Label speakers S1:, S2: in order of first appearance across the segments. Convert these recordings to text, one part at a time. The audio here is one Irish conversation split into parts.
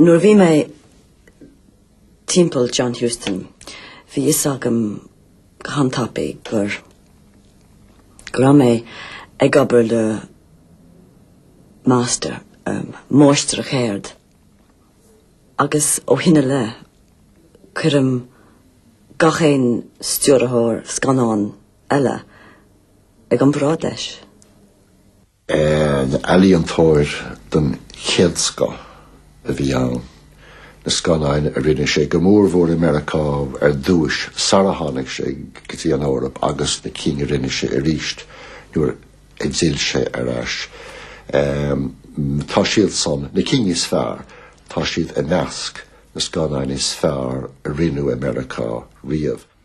S1: Nuair a bhí mé timpeall John Huston, bhí fhios agam go han-tapaidh gur go raibh mé ag obair le máistir, máistir a cheirde, agus ó shin i leith cuirim gach aon stiúrthóir scannán, eile ag an mbráid leis. An ealaíontóir den chéad scoth a bhí ann. Na scannáin a rinne sé, go mór mór i Meiriceá ar dtúis sara tháinig sé go dtí an Eoraip agus na cinn a rinne sé arís nuair a d'fhill sé ar ais, tá siad san, na cinn is fearr, tá siad i measc na scannáin is fearr a rinneadh i Meiriceá riamh.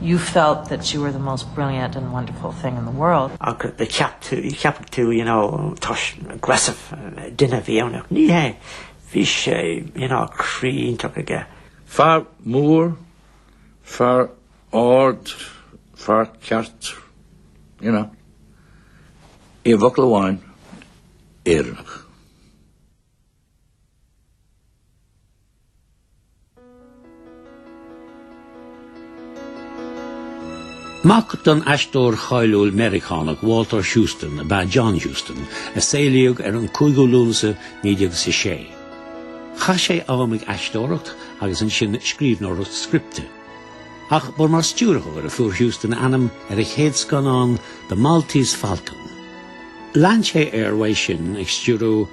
S1: You felt that you were the most brilliant and wonderful thing in the world. Ach cheapfadh tú, you know, toisc aggressive duine a bhí ann ach ní hé, bhí sé, you know, croí iontach aige. Fear mór, fear ard, fear ceart, you know, i bhfocal amháin, Éireannach. Mac don aisteoir cháiliúil Meiriceánach Walter Huston ab ea John Huston, a saolaíodh ar an 5ú Lúnasa 1906. Chaith sé am ag aisteoireacht agus ansin scríbhneoireacht scripte. Ach ba mar stiúrthóir a fuair Huston ainm ar a chéad scannán The Maltese Falcon. Lean sé air uaidh sin ag stiúradh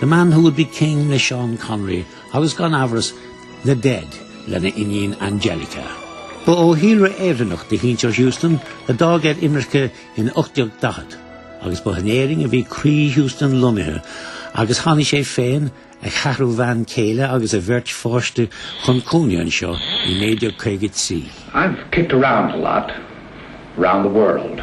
S1: The Man Who Would Be King le Sean Connery agus gan amhras The Dead lena iníon Anjelica. Ba ó shíolra Éireannach do shinsear Huston a d'fhág ar imirce in 1840 agus ba in Éirinn a bhí croí Huston lonnaithe agus tháinig sé féin, a cheathrú bhean céile agus a bheirt pháiste chun cónaí anseo i 1953. I've kicked around a lot, round the world.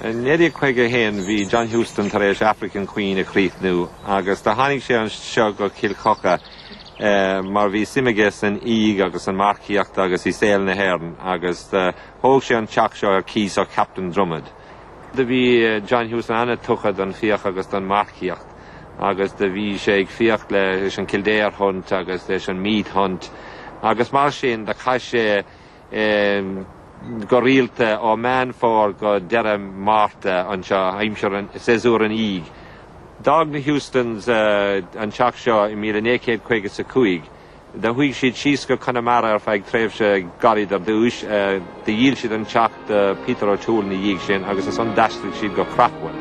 S1: I 1951 bhí John Huston tar éis African Queen a chríochnú agus do tháinig sé anseo go Cill Choca mar bhí suim aige san fhiach agus san marcaíocht agus i saol na hÉireann agus thóg sé an teach seo ar cíos ó Captain Drummond. Do bhí John Huston an-tugtha don fiach agus don marcaíocht agus do bhí sé ag fiach leis an Kildare Hunt agus leis an Meath Hunt agus mar sin do chaith sé go rialta ó Mheán Fómhair go deireadh Márta anseo, aimsir séasúr an fhiaigh. D'fhág na Hustons an teach seo i míle naoi céad caoga 's a cúig. Do chuaigh siad síos go Conamara ar feadh tréimhse gairid ar dtúis. Do dhíol siad an teach do Peter O'Toole ina dhiaidh sin agus as san d'aistrigh siad go Craughwell.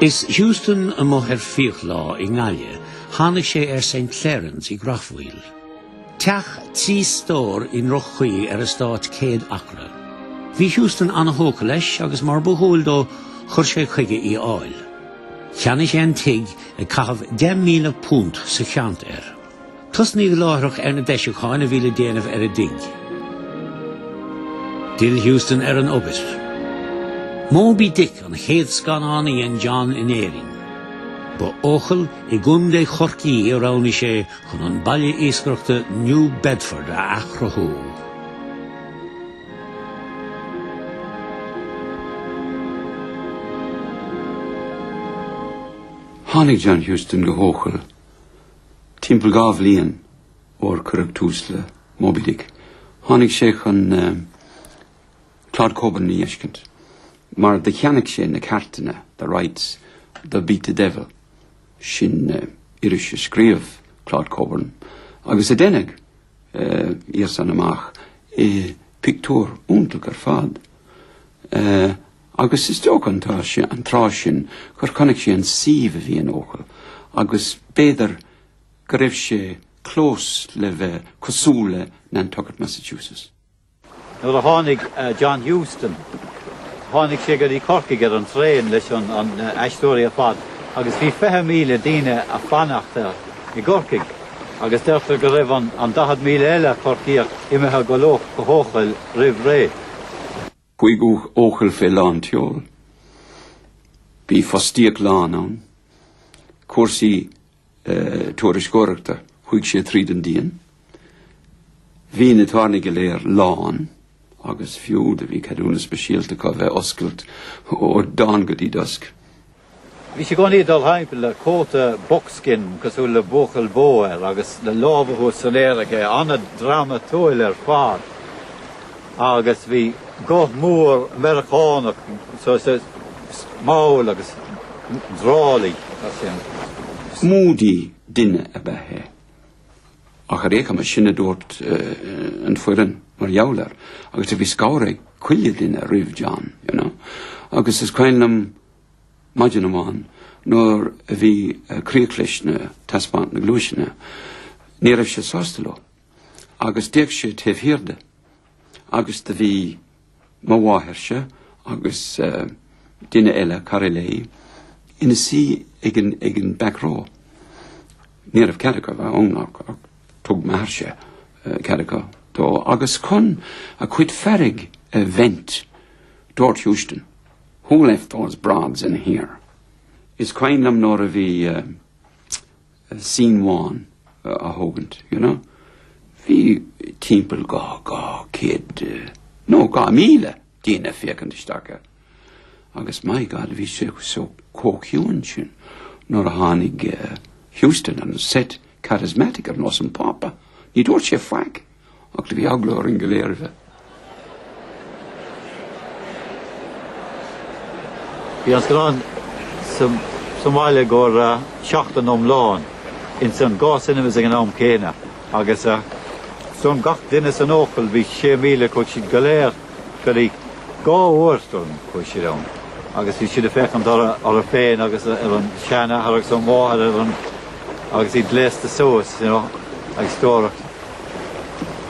S1: Is Huston amuigh ag fiach lá i nGaillimh. Tháinig sé ar St Clerans i gCreachmhaoil, teach trí stór i ndroch-chaoi ar eastát 100 acra. Bhí Huston an-thógtha leis agus mar ba dhual dó chuir sé chuige í a fháil. Cheannaigh sé an tigh ag caitheamh £10,000 sa cheant air. Tosnaíodh láithreach ar na deisiúcháin a bhí le déanamh ar an dtigh. D'fhill Huston ar an obair. Moby Dick an chéad scannán a dhein John in Éirinn. Ba Eochaill i gContae Chorcaí a roghnaigh sé chun an baile iascaireachta New Bedford a athchruthú. Tháinig John Huston go hEochaill timpeall dhá bhliain sarar cuireadh tús le Moby Dick. Tháinig sé chun Claud Cockburn a fheiscint, mar do cheannaigh sé na ceartanna, the rights, do Beat the Devil, sin iris a scríobh Claud Cockburn agus a deineadh ina dhiaidh san amach i bpictiúr iontach ar fad, agus is dócha an tráth sin gur chonaic sé an suíomh a bhí in Eochaill agus b'fhéidir go raibh sé close le bheith cosúil le Nantucket, Massachusetts. Nuair a tháinig John Huston, tháinig sé go dtí Corcaigh ar an traein leis na haisteoirí ar fad agus bhí 20,000 duine ag fanacht air i gCorcaigh agus deirtear go raibh an 40,000 eile Corcaíoch imithe leo go hEochaill roimh ré. Chuaigh Eochaill fé lán tseoil. Bhí fostaíocht lán ann. Cúrsaí turasóireachta, chuaigh sé tríd an díon. Bhí na tábhairní go léir lán agus fiú do bhí ceadúnas speisialta acu bheith oscailt ó dawn go dtí dusk. Bhí sé i gcónaí ag dul thimpeall le cóta buckskin cosúil le buachaill bó air agus le lámha thuas san aer aige, an-dramaitúil ar fad. agus bhí guth mór Meiriceánach saghas mall agus drawly mar sin. Moody duine ab ea é. Ach ar aon chuma sin a dúirt an foireann mar gheall air agus do bhí scanradh ag chuile duine roimh John, you know. Agus is cuimhin liom maidin amháin nuair a bhí críoch leis na taispeánta na gluaiseanna, ní raibh sé sásta leo. agus d'fhéach sé taobh thiar de, agus do bhí mo mháithairse agus duine eile, cara léi, ina suí ag an, ag an back row. Ní raibh cead acu bheith ann ach, ach thug m'athairse cead acu dó. Agus chun a chuid fearg a vent, dúirt Huston, Who left those broads in here? Is cuimhin liom nuair a bhí, scene amháin á thógaint, you know. Bhí timpeall dhá dhá céad nó dhá míle daoine féachaint isteach air agus my God bhí sé so chomh ciúin sin nuair a tháinig Huston on set charismatic ar nós an Phápa. Ní dúirt sé faic. Ach do bhí eagla orainn go léir a bheith. Bhí an scannán sa mbaile i gcomhair seachtain iomlán ins an dá cinemas ag an am céanna agus is dóigh liom gach duine san Eochaill, bhí sé míle chuaidh siad go léir go dtí dhá uair is dóigh liom chuaidh siad ann agus bhí siad a' féachaint orthu féin agus ar an sean athair agus an mháthair ar an agus iad gléasta suas you know agus go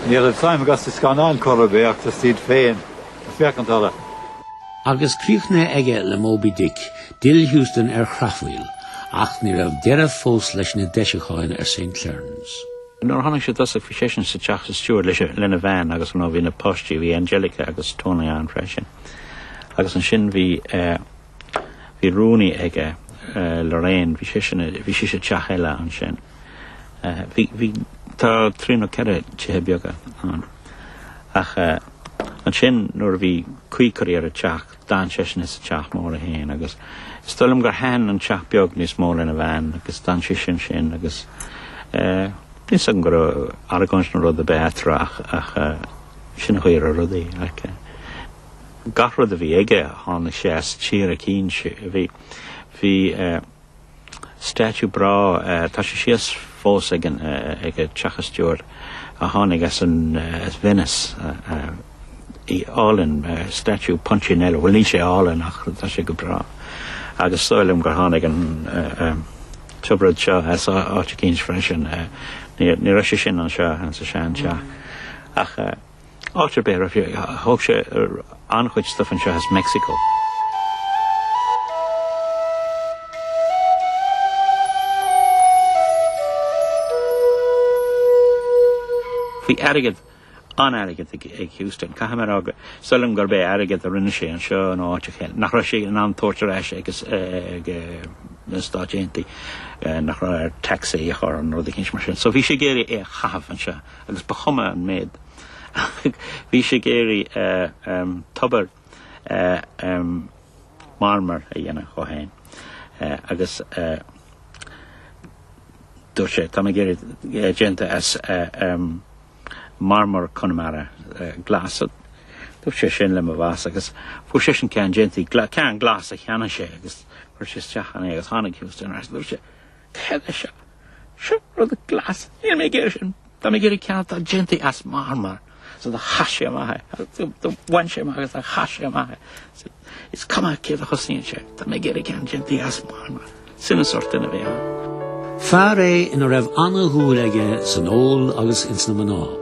S1: Ní raibh suim acu sa scannán chor ar bith ach just iad féin ag féachaint orthu. Agus críochnaithe aige le Moby Dick, d'fhill Huston ar Chreachmhaoil, ach ní raibh deireadh fós leis na deisiúcháin ar St. Clerans. Nuair a tháinig sé i dtosach bhí seisean sa teach sa steward leis, lena bhean agus ar ndóigh bhí na páistí, bhí Anjelica agus Tony ann freisin. Agus ansin bhí eh, bhí rúnaí aige eh, Lorraine, bhí, bhí sí sa teach eile ansin. Bhí tá trí nó ceithre tithe beaga ann. Ach ansin nuair a bhí caoi curtha ar an teach d'fhan seisean sa teach mór é féin agus is dóigh liom gur thaitin an teach beag níos mó lena bhean agus d'fhan sise ansin agus níl a fhios agam go raibh argóint nó rud ar bith eatarthu ach ach sin an chaoi a raibh rudaí. Like gach rud a bhí aige tháinig sé as tír eicínt. Bhí bhí eh. Statue breá, tá sé síos fós ag an teach an steward a tháinig as Venice. Í álainn, statue Punchinello, bhuel níl sé álainn ach tá sé go breá. Agus is dóigh liom gur tháinig an tiobraid seo as áit eicínt freisin, ní raibh sé sin anseo sa sean teach ach. Áit ar bith a raibh sé, thóg sé an-chuid stuif anseo as Meicsiceo. Bhí airgead, an-airgead ag Huston. Caithfidh mé a rá gur dóigh liom gurb é airgead a rinne sé anseo nó áit eicínt eile, nach raibh sé in ann a thabhairt ar ais ag na Stáit Aontaithe, nach raibh air taxes a chur air nó rud éigin mar sin. So bhí sé ag iarraidh é a chaitheamh anseo. agus ba chuma an méad. Bhí sé ag iarraidh tobar marmair a dhéanamh dhó féin agus dúirt sé, Tá mé dhá iarraidh déanta as marmar Chonamara, glas. Dúirt sé sin le mo bhoss agus fuair seisean ceann déanta, ceann glas a cheannaigh sé agus chuir sé isteach ann é agus tháinig Huston air agus dúirt sé, Tharla seo. Seo rud glas. Níl mé ag iarraidh sin. Tá mé ag iarraidh ceann atá déanta as marmar so do chaith sé amach é. Do bhain sé amach agus do chaith sé amach é. Is cuma cé a chosnaíonn sé. Tá mé ag iarraidh ceann déanta as marmar. Sin an sórt duine a bhí ann. Fear é a raibh an-dhúil aige san ól agus ins na mná.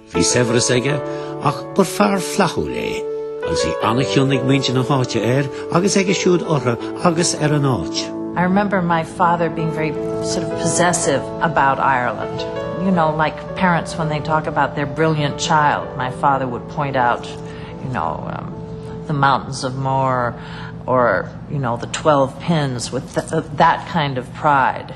S1: Bhí saibhreas aige ach ba fear flaithiúil é agus bhí an-chion ag muintir na háite air agus aige siúd orthu agus ar an áit. I remember my father being very sort of possessive about Ireland. You know, like parents when they talk about their brilliant child, my father would point out, you know, um, the mountains of Moher or, you know, the 12 pins with th that kind of pride.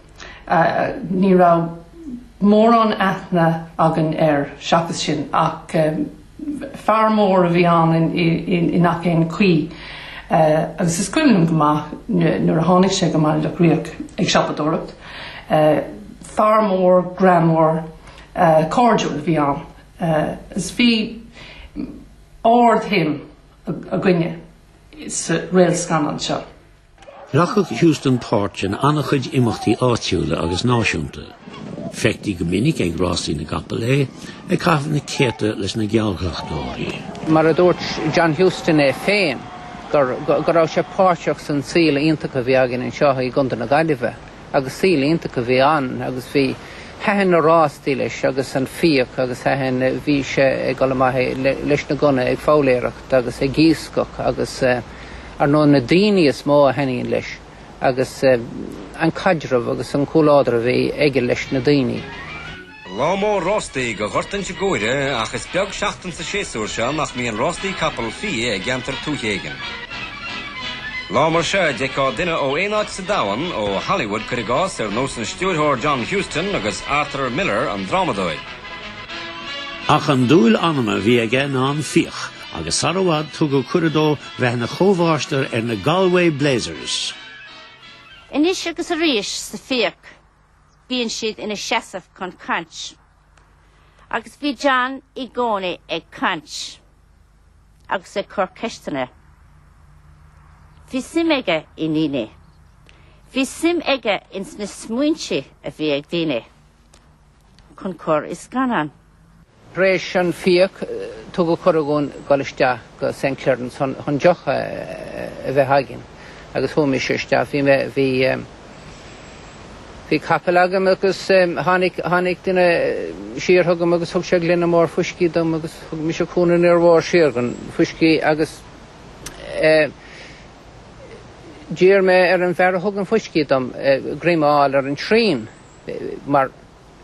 S1: Ní raibh mórán aithne againn air seachas sin ach fear mór a bhí ann i ngach aon chaoi agus is cuimhin liom go maith nuair a tháinig sé go Baile Locha Riach ag siopadóireacht. Fear mór, greannmhar, cairdiúil a bhí ann agus bhí ard-shuim againne sa réalt scannán seo. Ghlacadh Huston páirt in an-chuid imeachtaí áitiúla agus náisiúnta. Feictí go minic ag rástaí na gcapall é, ag caitheamh na céadta leis na geallghlacadóirí. Mar a dúirt John Huston é féin, go raibh sé páirteach san saol iontach a bhí againn anseo i gContae na Gaillimhe agus saol iontach a bhí ann agus bhí, thaitin na rástaí leis agus an fiach agus thaitin, bhí sé ag dul amach leis na gunna ag foghlaeireacht agus ag iascach agus eh, Ar ndóigh, na daoine is mó a thaitníonn leis agus an caidreamh agus an comhluadar a bhí aige leis na daoine. Lá mór rástaí do Ghort Inse Guaire ach is beag seachtain sa séasúr seo nach mbíonn rástaí capall fiaigh i gceantar tuaithe éigin. Lá mar seo a d'fheicfeá duine ó aon áit sa domhan, ó Hollywood cuir i gcás, ar nós an stiúrthóir John Huston agus Arthur Miller an drámadóir. Ach an dúil anama a bhí aige ná an fiach. agus sar i bhfad tugadh cuireadh dó bheith ina chomhmháistir ar na Galway Blazers. Anois agus arís sa fiach bíonn siad ina seasamh chun caint. Agus bhí John i gcónaí ag caint agus ag cur ceisteanna. Bhí suim aige i ndaoine. Bhí suim aige ins na smaointe a bhí ag daoine. chun cur i scannán. Tar éis an fiach, tugadh cuireadh dhúinn dul isteach go St. Clerans chun deoch a bheith againn agus chuaigh mise isteach. Bhí mé, bhí, bhí capall agam agus tháinig, tháinig duine siar chugam agus thug sé gloine mór fuiscí dom agus thug mise cúnamh an-mhór siar an fuiscí agus d'iarr mé ar an bhfear a thug an fuiscí dom greim a fháil ar an tsrian. mar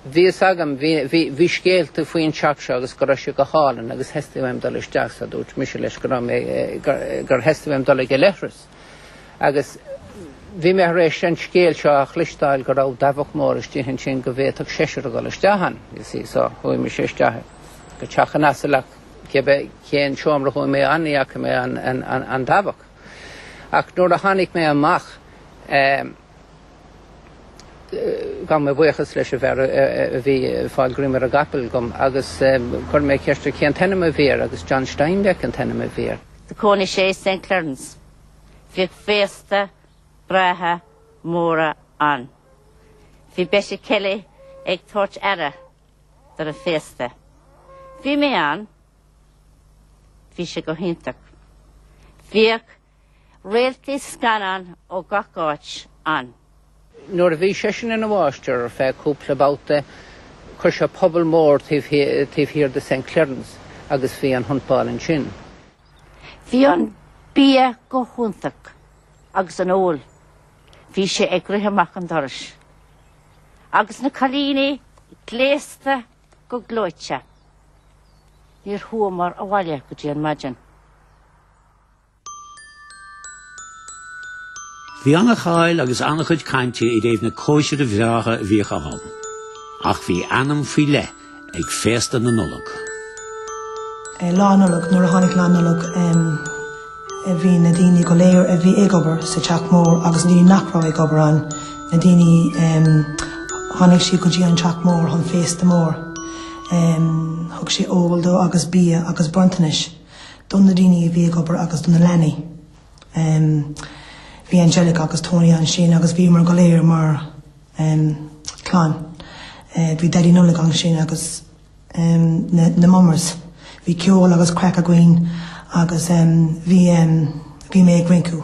S1: bhí fhios agam, bhí, bhí, bhí scéalta faoin teach seo agus go raibh sé go hálainn agus theastaigh uaim dul isteach, so dúirt mise leis go raibh mé, gur, gur theastaigh uaim dul ag an leithreas. Agus bhí mé thar éis an scéal seo a chloisteáil go raibh dabhach mór istigh ansin go bhféadfadh seisear a dhul isteach ann, you see, so chuaigh mise isteach go teach an asail ach cibé cén seomra a chuaigh mé ann ní fhaca mé an, an, an, an dabhach. Ach nuair a tháinig mé amach, eh, Ghabh mé buíochas leis an bhfear a bhí ag fáil greim ar an gcapall dhom agus chuir mé ceist air cén t-ainm a bhí air agus John Steinbeck an t-ainm a bhí air. Do chónaigh sé i Saint Clerans. Bhíodh féasta breátha móra ann. Bhí Betty Kelly ag tabhairt aire do na féasta. Bhí mé ann. Bhí sé go hiontach. Bhíodh. Réaltaí scannán ó gach áit ann. Nuair a bhí seisean ina mháistir ar feadh cúpla babhta, chuir sé puball mór taobh thiar de St. Clerans agus bhí an hunt ball ansin. Bhí an bia go hiontach agus an ól. Bhí sé ag rith amach an dorais agus na cailíní gléasta go gleoite. Níor chuamar abhaile go dtí an maidin. Bhí an-cháil agus an-chuid cainte i dtaobh na cóisire bhreátha a bhíodh ann. Ach bhí ainm faoi leith ag féasta na Nollag. Lá Nollag, nuair a tháinig Lá Nollag bhí na daoine go léir a bhí ag obair sa teach mór agus na daoine nach raibh ag obair ann, na daoine, tháinig siad go dtí an teach mór chun féasta mór. Thug sé ól dóibh agus bia agus bronntanais. do na daoine a bhí ag obair agus do na leanaí. Bhí Angelica agus Tony ansin agus bhíomar go léir mar clann. Bhí Daidí na Nollag ansin agus na mummers. Bhí ceol agus craic againn agus bhí mé ag rince.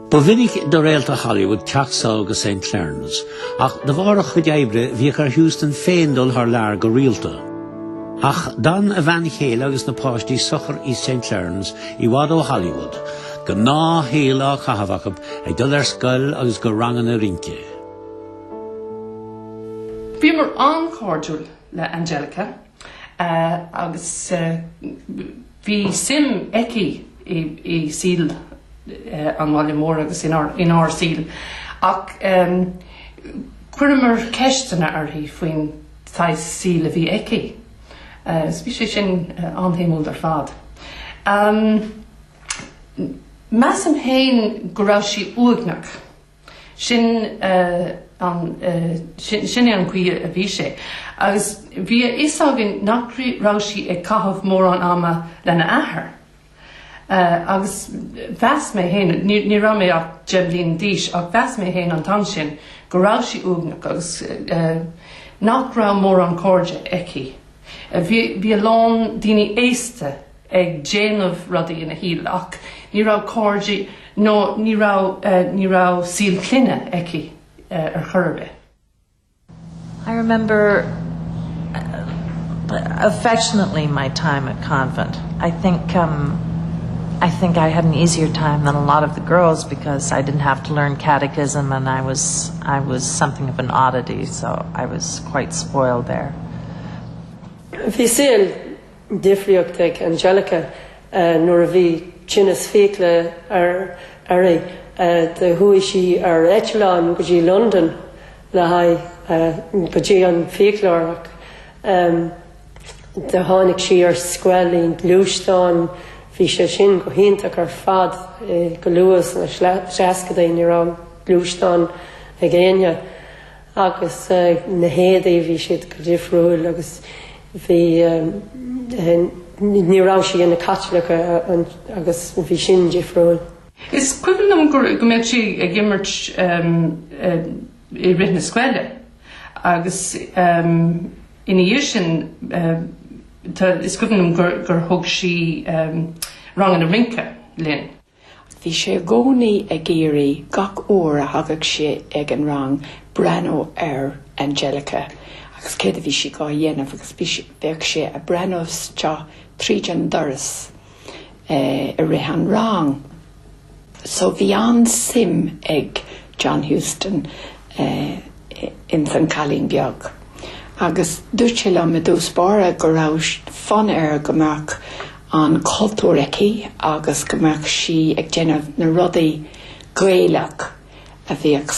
S1: Ba mhinic do réaltaí Hollywood teacht sall go St. Clerans, ach de bharr a chuid oibre bhíodh ar Huston féin dul thar lear go rialta. Ach d'fhan a bhean chéile agus na páistí socair i St. Clerans i bhfad ó Hollywood, gnáthshaol á chaitheamh acu ag dul ar scoil agus go ranganna rince. Bhíomar an-chairdiúil le Anjelica. agus bhí suim aici i saol an bhaile mhóir agus inár saol ach chuireamar ceisteanna uirthi faoin saghas saoil a bhí aici agus bhí sé sin an-shuimiúil ar fad. Measaim féin go raibh sí uaigneach. Sin é an chaoi a bhí sé agus bhí a fhios againn nach raibh sí ag caitheamh mórán ama lena athair agus mheas mé féin, ní raibh mé ach deich mbliana d'aois, ach mheas mé féin an t-am sin go raibh sí uaigneach agus nach raibh mórán cairde aici. Bhí a lán daoine aosta. ag déanamh rudaí ina saol ach ní raibh cairde nó ní raibh, ní raibh saol clainne aici ar chor ar bith. I remember affectionately my time at the convent. I think, I think I had an easier time than a lot of the girls because I didn't have to learn catechism and I was, I was something of an oddity so I was quite spoiled there. Bhí saol difriúil ag Angelica nuair a bhí tinneas fiacla uirthi, do chuaigh sí ar eitleán go dtí Londain le haghaidh, go dtí an fiaclóir ach do tháinig sí ar scoil i ngluaisteán, bhí sé sin go hiontach ar fad, go luath sna seascadaí ní raibh gluaisteán ag éinne. agus na héadaí bhí siad go difriúil agus bhí ní raibh sí ina Caitliceach agus bhí sin difriúil. Is cuimhin liom go mbeadh sí ag imirt i rith na scoile agus ina dhiaidh sin is cuimhin liom gur thug sí ranganna rince dúinn. Bhí sé i gcónaí ag iarraidh gach uair a thagadh sé ag an rang breathnú ar Angelica agus céard a bhí sí dhá dhéanamh agus bheadh sé a' breathnú isteach tríd an doras i rith an rang. So bhí an-suim ag John Huston i. ins an cailín beag agus dúirt sé liom i dtús báire go raibh fonn air go mbeadh an cultúr aici agus go mbeadh sí ag déanamh na rudaí Gaelach a bhíodh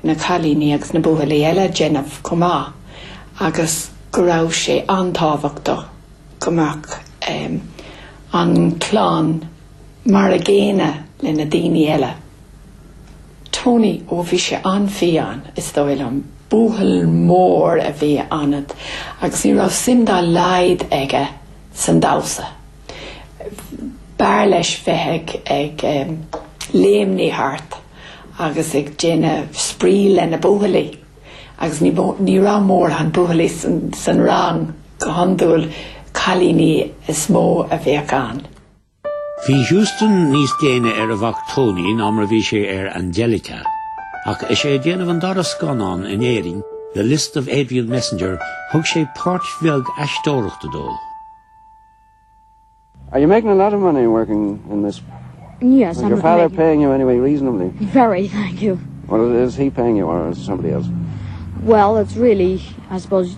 S1: na cailíní agus na buachaillí eile ag déanamh chomh maith agus go raibh sé an-tábhachtach go mbeadh an chlann mar a gcéanna le na daoine eile. Tony, Ó bhí sé an-fhiáin, is dóigh liom. Buachaill mór a bhí ann agus ní raibh suim dá laghad aige san damhsa. B'fhearr leis bheith ag, ag eh, léimnigh thart agus ag déanamh spraoi le na buachaillí agus ní, ní raibh mórán buachaillí san, san rang, go hiondúil cailíní is mó a bhíodh ann. Bhí Huston níos déine ar a mhac Tony ná mar a bhí sé ar Angelica. Ach is é ag déanamh an dara scannán in Éirinn, The List of Adrian Messenger, thug sé páirt bheag aisteoireachta dó. Are you making a lot of money working in this? Yes, I am. Is your father making... paying you anyway reasonably? Very, thank you. Well, is he paying you or is somebody else? Well, it's really, I suppose,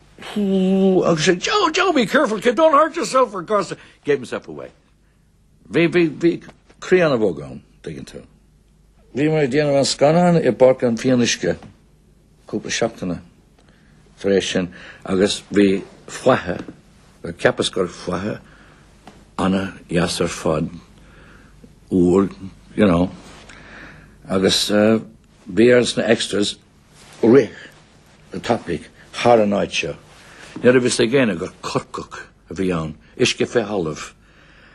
S1: arsa sé, Joe, Joe, be careful, kid, don't hurt yourself for God's sake, gave himself away. Bhí, bhí, bhí croí an-bhog ann, dtuigeann tú. Bhí mé ag déanamh an scannáin i bPáirc an Fhionnuisce cúpla seachtain tar éis sin agus bhí faiche, bhuel cheapas gur faiche an-deas ar fad, úr, you know, agus bhí ar na extras rith an-tapaidh thar an áit seo ní raibh a fhios ag éinne gur corrach a bhí ann, uisce fé thalamh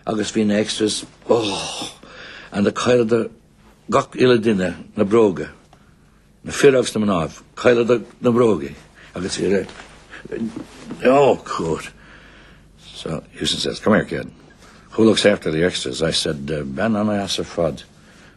S1: agus bhí na extras ugh and do chailleadar gach uile duine na bróga, na fir agus na mnáibh, chailleadar na bróga agus bhí rith oh cúir. So Huston says, come here kid, who looks after the extras? I said, bean ana-dheas ar fad.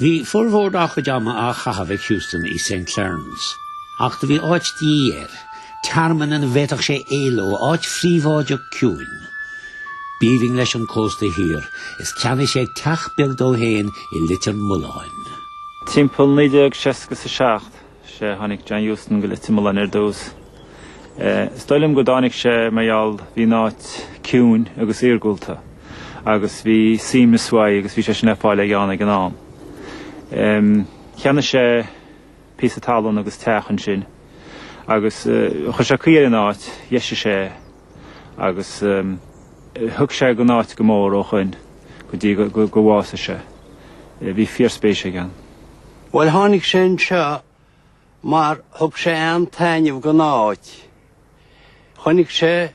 S1: Bhí formhór dá chuid ama á chaitheamh ag Huston i St Clerans, ach do bhí áit de dhíth air, tearmann ina bhféadfadh sé éaló, áit phríobháideach ciúin, b'aoibhinn leis an cósta thiar, is ceannaigh sé teach beag dó féin i Leitir Mealláin. Timpeall 1967, sé tháinig John Huston go Leitir Mealláin ar dtús. Is dóigh liom go dtáinig sé mar gheall bhí an áit ciúin agus iargúlta agus bhí suaimhneas uaidh agus bhí sé sin le fáil ag John ag an am. Cheannaigh sé píosa talún agus teach ansin agus chuir sé caoi ar an áit, dheisigh sé é agus thaithigh sé an áit go mór ó shoin go dtí gur bhásaigh sé. Bhí fíor-spéis ag John. Bhuel, tháinig sé anseo mar thug sé an-taitneamh don áit. Chonaic sé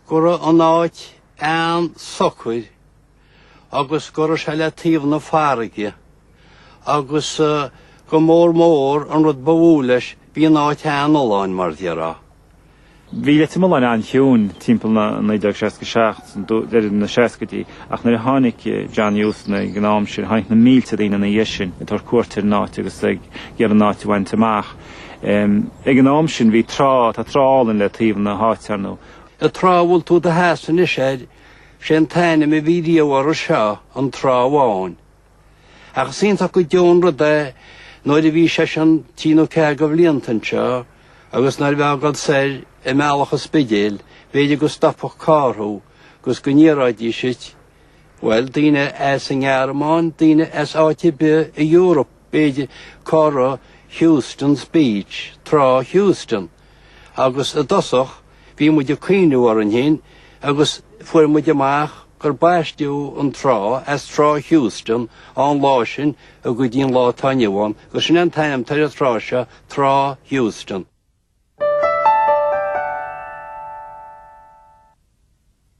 S1: go raibh an áit an-socair agus go raibh sé le taobh na farraige agus go mór mór, an rud ba mhó leis, bhí an áit an-fholláin, mar déarfá. Bhí Leitir Mealláin an-chiúin timpeall 1967, deireadh na seascaidí, ach nuair a tháinig John Huston ag an am sin tháinig na mílte daoine ina dhiaidh sin ag tabhairt cuairt ar an áit agus ag iarraidh an áit a bhaint amach. Ag an am sin bhí trá, tá trá álainn le taobh na háite ar ndóigh. An trá a bhfuil tú i do sheasamh anois air, sé an t-ainm a bhí riamh uirthi seo, an Trá Bhán. Ach is iontach go deo an rud é nuair a bhí seisean trí nó ceathair de bhlianta anseo agus nuair a bheifeá ag dul soir i mBealach an Spidéil, b'fhéidir go stopfadh carr thú agus go n-iarraidís díot, bhuel, daoine as an nGearmáin, daoine as áit ar bith san Eoraip, b'fhéidir, cá raibh Huston's Beach, Trá Huston? agus i dtosach bhí muid ag cuimhniú orainn fhéin agus fuair muid amach gur baisteadh an trá as Trá Huston ón lá sin go dtí an lá atá inniu ann agus sin é an t-ainm atá ar an trá seo, Trá Huston.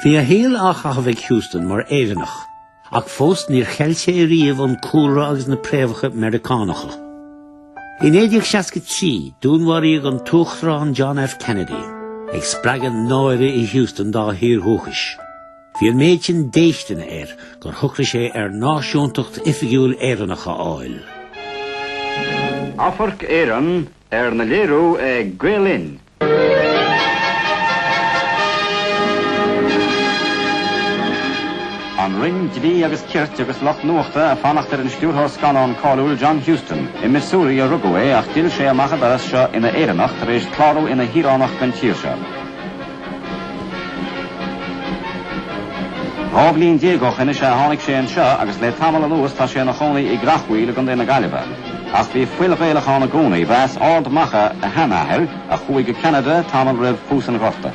S1: Bhí a shaol á chaitheamh ag Huston mar Éireannach, ach fós níor cheil sé riamh an cúlra agus na préamhacha Meiriceánacha. I 1963, dúnmharaíodh an tUachtarán John F. Kennedy, ag spreagadh náire i Huston dá thír dhúchais. Bhí an méid sin déistine air gur shocraigh sé ar náisiúntacht oifigiúil Éireannach a fháil. Amharc Éireann arna léiriú ag Gael Linn. An Roinn Dlí agus Cirt agus lucht nuachta ag fanacht ar an stiúrthóir scannán cáiliúil John Huston. I Missouri a rugadh é ach d'fhill sé amach an doras seo ina Éireannach tar éis clárú ina shaoránach den tír seo. Dhá bhliain déag ó shin is ea a tháinig sé anseo agus le tamall anuas tá sé ina chónaí i gCreachmhaoil i gcontae na Gaillimhe. Ach bhí fuil Ghaelach ann i gcónaí, ba as Ard Macha a sheanathair a chuaigh go Ceanada tamall roimh thús an Ghorta.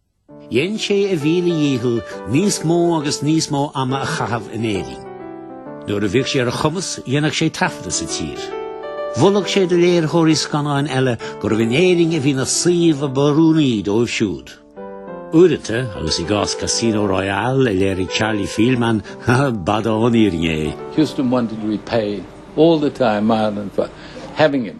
S1: Dhein sé a mhíle dhícheall níos mó agus níos mó ama a chaitheamh in Éirinn. Nuair a bhíodh sé ar a chumas, dhéanadh sé taifeadadh sa tír. Mholadh sé do léiritheoirí scannáin eile gurbh in Éirinn a bhí na suímh ab oiriúnaí dóibh siúd. Uaireanta, agus i gcás Casino Royale a léirigh Charlie Feldman, b'fhada ón fhírinne é. Huston wanted to repay all the time Ireland for having him.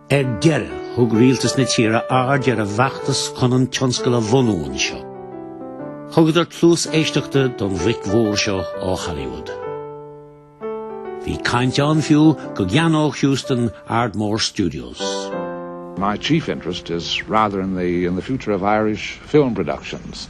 S1: Ar deireadh, thug Rialtas na tíre aird ar an bhfeachtas chun an tionscal a bhunú anseo. Thugadar cluas éisteachta don bhoc mhór seo ó Hollywood. Bhí caint ann fiú go gceannódh Huston Ardmore Studios. My chief interest is rather in the in the future of Irish film productions.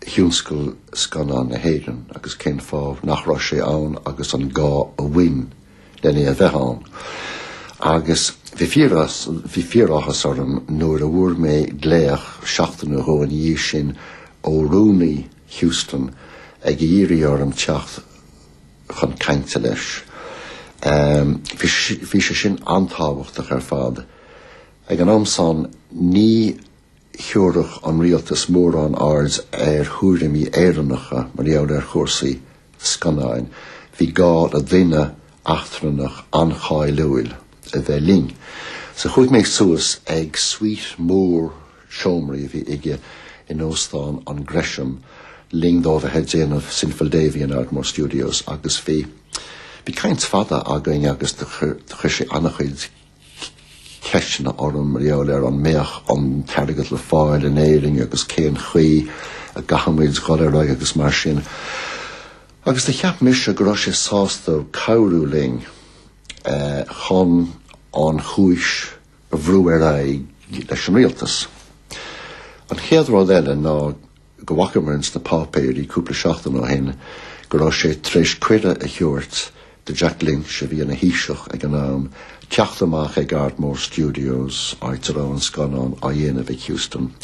S1: thionscal scannán na hÉireann agus cén fáth nach raibh sé ann agus an gá a bhain len é a bheith ann. Agus bhí fíoráthas orm nuair a bhfuair mé glaoch seachtain nó dhó ina dhiaidh sin ó rúnaí Huston ag iarraidh orm teacht chun cainte leis. Um, bhí sé sin an-tábhachtach ar fad. Ag an am san ní thiúrfadh an rialtas mórán aird ar thuairimí Éireannacha mar gheall ar chúrsaí scannáin, bhí gá le duine eachtrannach an-cháiliúil a bheith linn. So chuaigh mé suas ag suite mór seomraí a bhí aige in Óstán an Gresham, le linn dó a bheith ag déanamh Sinful Davey in Ardmore Studios agus bhí bhí caint fada againn agus do chuir sé an-chuid ceisteanna orm mar gheall ar an mbeadh an t-airgead le fáil in Éirinn agus cén chaoi a gcaithfimis dul ar aghaidh agus mar sin. Agus do cheap mise go raibh sé sásta cabhrú linn eh, chun an chúis a bhrú ar aghaidh leis an rialtas. An chéad rud eile ná go bhfacamar ins na páipéirí cúpla seachtain ó shin go raibh sé tar éis cuireadh a thabhairt do Jack Lynch, a bhí ina Thaoiseach ag an am, teacht amach ag Ardmore Studios, áit a raibh an scannán á dhéanamh ag Huston,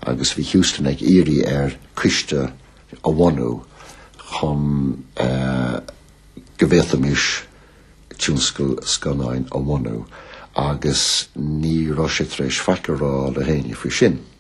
S1: agus bhí Huston ag iarraidh air coiste a bhunú chun go bhféadfaimis tionscal scannáin a bhunú, agus ní raibh sé tar éis faic a rá le héinne faoi sin.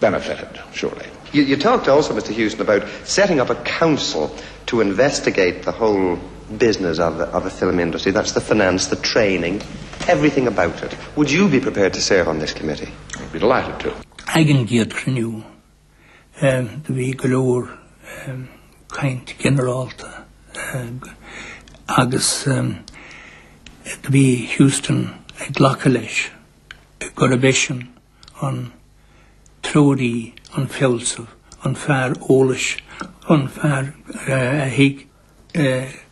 S1: benefited, surely. You talked also, Mr Hughson, about setting up a council to investigate the whole business of the of the film industry, that's the finance, the training, everything about it. Would you be prepared to serve on this committee? I'd be delighted to. Ag an gcéad chruinniú do bhí go leor caint ginearálta agus do bhí Hugheston ag glacadh leis gurb eisean an treoraí, an fealsamh, an fear eolais, an fear a thuig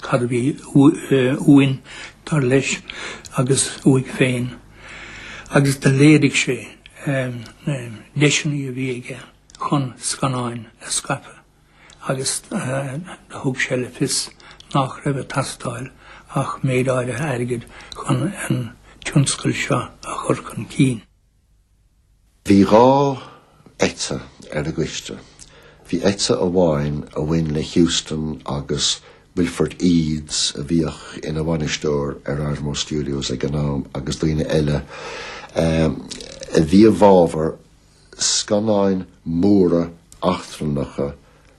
S1: cad a bhí uainn, dar leis, agus uaidh féin, agus do léirigh sé na deiseanna a bhí aige chun scannáin a scaipeadh. agus thug sé le fios nach raibh ag teastáil ach méid áirithe airgid chun an tionscal seo a chur chun cinn. Bhí dhá eite ar an gcoiste. Bhí eite amháin a bhain le Huston agus Wilfred Eades a bhíodh ina bhainisteoir ar Ardmore Studios ag an am agus daoine eile a bhí i bhfabhar scannáin mhóra eachtrannacha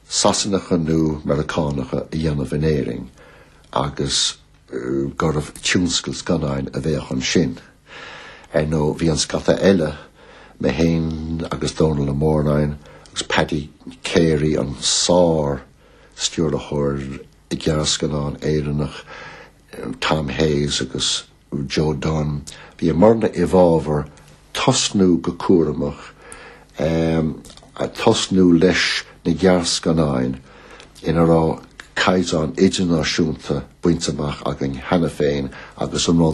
S1: Sasanacha nó Meiriceánacha a dhéanamh in Éirinn agus gurbh tionscal scannáin a bheadh ansin. Ar ndóigh, bhí an scata eile, mé féin agus Dónall Ó Móráin agus Paddy Carey, an sár-stiúrthóir gearrscannán Éireannach Tom Hayes agus, Joe Dunne. Bhíomarna i bhfabhar tosnú go cúramach, tosnú leis na gearrscannáin ina raibh caighdeán idirnáisiúnta bainte amach againn cheana féin agus an rud